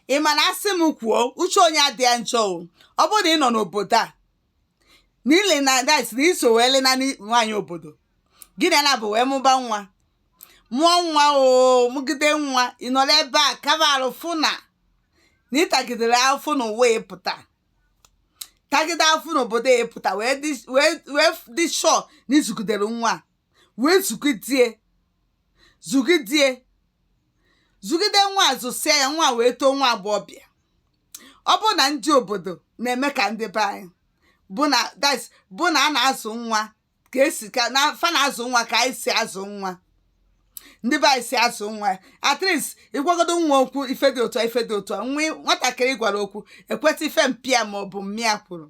ị ma na asị m kwuo uche onye adịa njọ o ọ bụrụ na ị nọ n'obodo a n'ile na that na i so wee lena nwaanyị obodo gị na ya na-abụ wee mụba nwa mụọ nwa o mụgide nwa ị nọ n'ebe a kaba arụ fụ na na ị tagidere afụfụ n'ụwa ị pụta tagide afụfụ n'obodo ị pụta wee dị- wee wee dị sure na ị zụgidere nwa a. wee zụgidie zụgidie zụgide nwa a zụsịa ya nwa a wee too nwa agbọghọbịa ọ bụrụ na ndị obodo na-eme ka ndị be anyị bụ na that's bụ na a na-azụ nwa ka e si ka na fa na-azụ nwa ka anyị si azụ nwa ndị be anyị si azụ nwa at least ị gwagodu nwa okwu ife dị otu a ife dị otu a nwa nwatakịrị ị gwara okwu ekweta ife mpa ya ma ọ bụ mma ya kwuru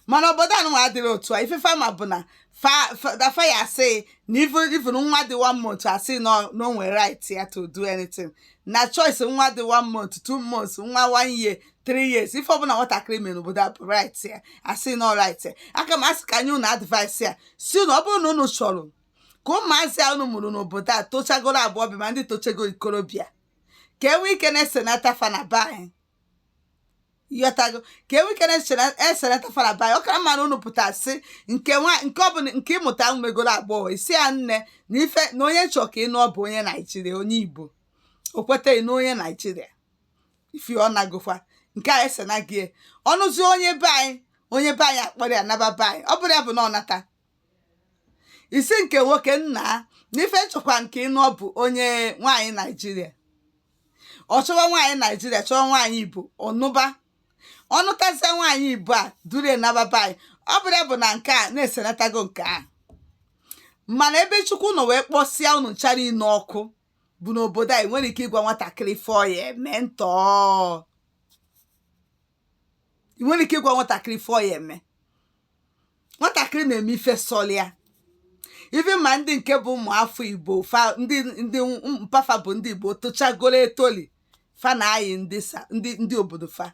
mana obodo anụnwa adịrọ otu a ife fa ma bụ na that fa ya asị na even nwa dị one month asị na o nwere right ya to do anything na choice nwa dị one month two months nwa one year three years ife ọbụla nwatakịrị mere n'obodo a bụ right ya asị na ọ right ya aka m asị ka m nye unu advice ya sị na ọ bụrụ na unu chọrọ ka ụmụazị a unu mụrụ n'obodo a tochagoro agbọghọbịa ma ndị tochago ikorobịa ka e nwee ike na-esenata fa na be anyị ị ghọtago ka e nwee ike na-esenata fa na be anyị ọ kara mma na unu pụta sị nke nwa nke ọ bụla nke ị mụta megoro agbọghọ ị sị ya nne na ife na onye m chọ ka ị nụọ bụ onye naijiria onye igbo o kweta gị nụọ onye naijiria ife ọ nagokwa nke a esenago ọ nụzie onye be anyị onye be anyị akpọrọ ya naba be anyị ọ bụrụ ya bụ na ọ nata ị sị nke nwoke nna n'ife m chọkwa nke ị nụọ bụ onye nwaanyị naijiria ọ chọwa nwaanyị naijiria chọwa nwaanyị igbo ọ nụba ọ nụtazie nwaanyị igbo a duru ya naba be anyị ọ bụrụ ya bụ na nke a na-esenatago nke a mana ebe chukwu nọ wee kpọsịa unu ncha niine ọkụ bụ n'obodo a ị nwerọ ike ịgwa nwatakịrị ife ọ ya eme ntọọ ị nwerọ ike ịgwa nwatakịrị ife ọ ya eme nwatakịrị na-eme ife sọlụ ya even ma ndị nke bụ ụmụ afọ igbo fa ndị ndị mpa fa bụ ndị igbo tochagoro etoli fa na-ayị ndị sa ndị ndị obodo fa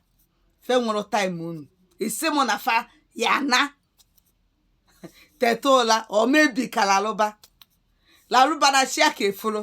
fa enwerọ time unu ị sị mụ na fa ya ana teta ụla or maybe ka lalụba lalụba na chi aka eforo